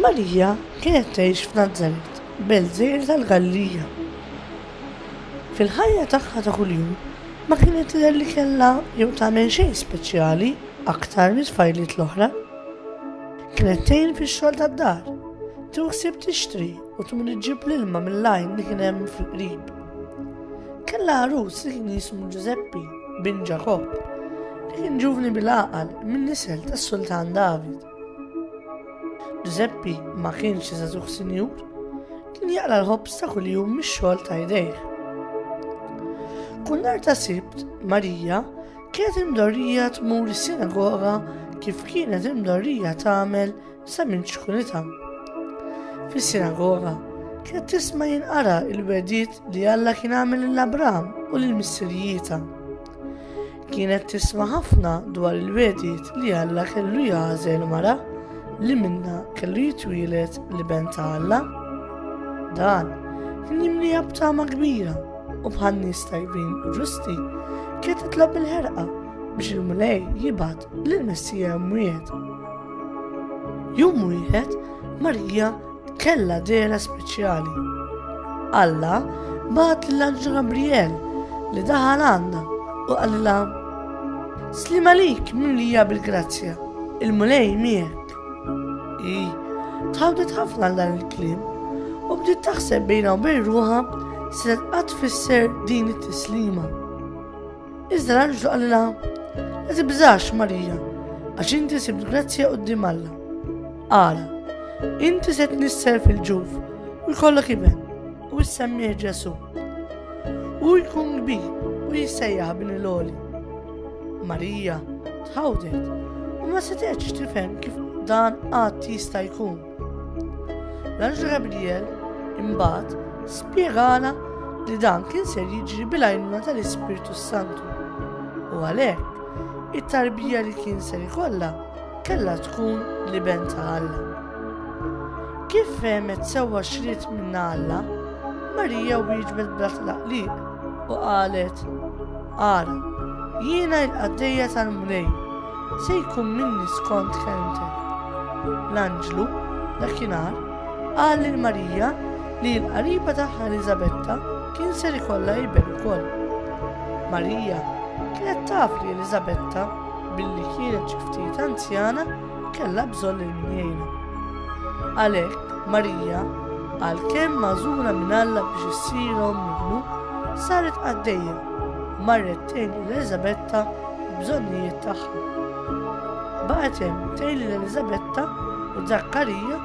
Marija kienet tgħix f'Nazaret, belt żgħira tal-Galilija. Fil-ħajja tagħha ta' kuljum ma kienet tidher li kellha jew tagħmel xejn speċjali aktar mit-tfajliet l-oħra. Kienet tgħin fix-xogħol tad-dar, tuħsib tixtri u tmur iġġib l-ilma mill-għajn li kien hemm fil-qrib. Kellha għarus li kien jismu Ġużeppi bin Ġakob, li kien ġuvni bil-għaqal minn nisel tas-Sultan David. Ġużeppi ma kienx iżazuħ sinjur, kien jaqla l-ħobs ta' kuljum mix-xogħol ta' jdejh. Kull nar ta' sibt, Marija kienet imdorrija tmur is-sinagoga kif kienet imdorrija tagħmel Sa minn ċkunitha. Fis-sinagoga kienet tisma' jinqara il-wedid li Alla kien għamel lil Abram u lil missirijieta. Kienet tisma' ħafna dwar il-wedid li Alla kellu jagħżel mara li minna kellu jitwielet li ben ta' Alla. Dan kien jimlija b'tama kbira u bħal nies tajbin u ġusti kienet titlob il-ħerqa biex il-Mulej jibgħat L-Messija mwiet. Jum wieħed Marija kella dera speċjali. Alla bat l-anġu Gabriel li daħal għandha u qalilha Slim għalik mimlija bil-grazzja, il-mulej miegħek. I, tħawdet ħafna dan il-klim u bdiet taħseb bejna u bejn ruħa se tqatt fisser din it-tislima. Iżda l-anġlu qalilha, La tibżax, Marija, għax inti sibt grazzja quddiem Alla. Ara, inti se tnisser fil-ġuf u jkollok iben u jissemmih Ġesu. U jkun kbir u jissejjaħ bin il-oli. Marija tħawdet u ma setgħetx tifhem kif dan qatt jista' jkun. L-Anġlu Gabriel imbagħad spjegana li dan kien ser jiġri bil-għajnuna tal-Ispirtu Santu. U għalhekk, it-tarbija li kien ser ikollha kellha tkun li ben ta' Alla. Kif fehmet sewwa xrid minn Alla, Marija wieġbet bla tlaqliq u qalet, Ara, jiena il-qaddejja tal-Mulej, Se jkun minni skont kelmtek. L-anġlu, dakinhar, qal lil Marija li l-qariba tagħha Eliżabetta kien ser ikollha iben ukoll. Marija kienet taf li Eliżabetta, billi kienet xi ftit anzjana, kellha bżonn lil min jgħinha. Għalhekk, Marija, għalkemm magħżula minn Alla biex issir omm ibnu, saret qaddejja, marret tgħin lil Eliżabetta bżonnijiet tagħha. Baqgħet hemm tgħin lil Eliżabetta u Żakkarija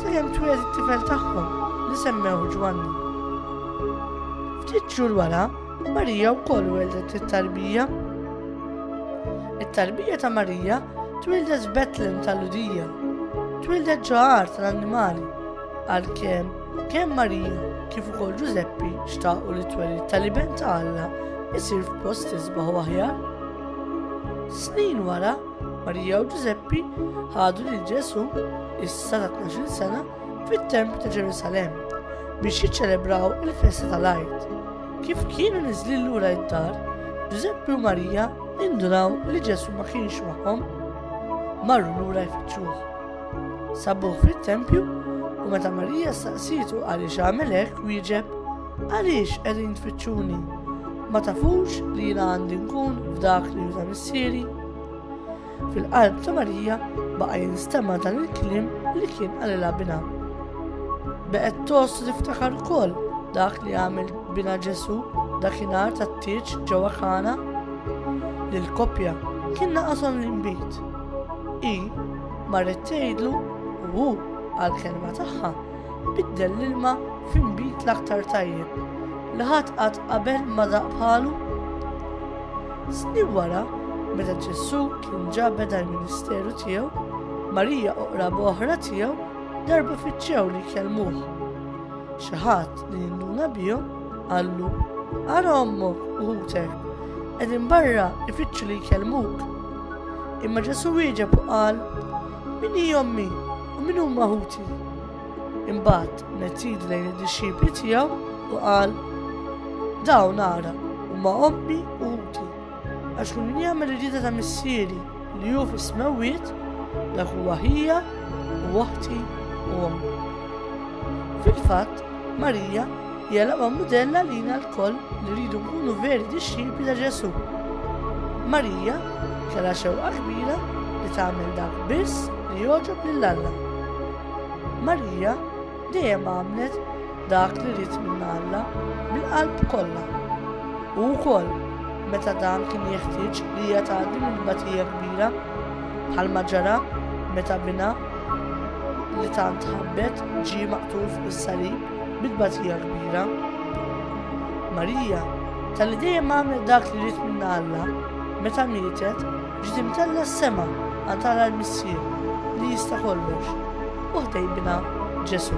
sakemm twieled it-tifel tagħhom li semmew Ġwanni. Ftit xhur wara, Marija wkoll weldet it-tarbija. It-tarbija ta' Marija twildet f'Betlem tal-Ludija, twildet ġo tal-annimali għalkemm Kemm Marija kif ukoll Ġużeppi xtaqu li t-twelid tal-Iben ta' Alla isir f'post isbaħ u aħjar. Snin wara, Marija u Ġużeppi ħadu lil Ġesù issa ta' 12 sena fit-Tempju ta' Ġerusalem biex jiċċelebraw il-festa tal-Għid. Kif kienu niżli lura id-dar, Ġużeppi u Marija indunaw li Ġesu ma kienx magħhom. Marru lura jfittxuh. Sabuh fit-tempju u meta Marija staqsitu għaliex għamel hekk wieġeb, għaliex qegħdin tfittxuni? Ma tafux li jiena għandi nkun f'dak li juża missieri? Fil-qalb ta' Marija baqa' jinstema' dan il-kliem li kien għalilha bina. Beqgħet tost tiftakar ukoll dak li għamel bina Ġesu dakinhar tat-tieġ ġewwa Kana. Lil koppja kien naqashom l-inbid. Hi marret tgħidlu u hu, għall-kelma tagħha, biddel l-ilma fi nbid l-aktar tajjeb li ħadd qatt qabel ma daq bħalu. Snin wara, meta Ġesù kien ġa beda l-ministeru tiegħu, Marija u qraba oħra tiegħu darba fiċċew li jkellmuh. Xi ħadd li jinduna bihom qallu ara ommok u ħutek qegħdin barra ifittxu li jkellmuk. Imma Ġesu wieġeb u qal, Min hi ommi u min huma ħuti? Imbagħad mettid lejn id-dixxipli tiegħu u qal, Dawn ara huma ommi u ħuti, għax kull min jagħmel irrida ta' missieri li hu fis-smewwiet dak huwa ħija u waħti u ommi. Fil-fatt, Marija Hija laqwa mudell għalina lkoll li rridu nkunu veri dixxipli ta' Ġesù. Marija kellha xewqa kbira li tagħmel dak biss li jogħġob lil Alla. Marija dejjem għamlet dak li ried minn Alla bil-qalb kollha. U wkoll meta dan kien jeħtieġ li hija tgħaddi minn batija kbira bħalma ġara meta bina li tant ħabbet ġie maqtul fuq is-salib. Bit-tbatija kbira, Marija, tal-li dejjem għamlet dak li rrit minna Alla, meta mietet, ġiet imtella s-sema għal tara l-Missier li jista' kollox, u ħdejn minha Ġesu.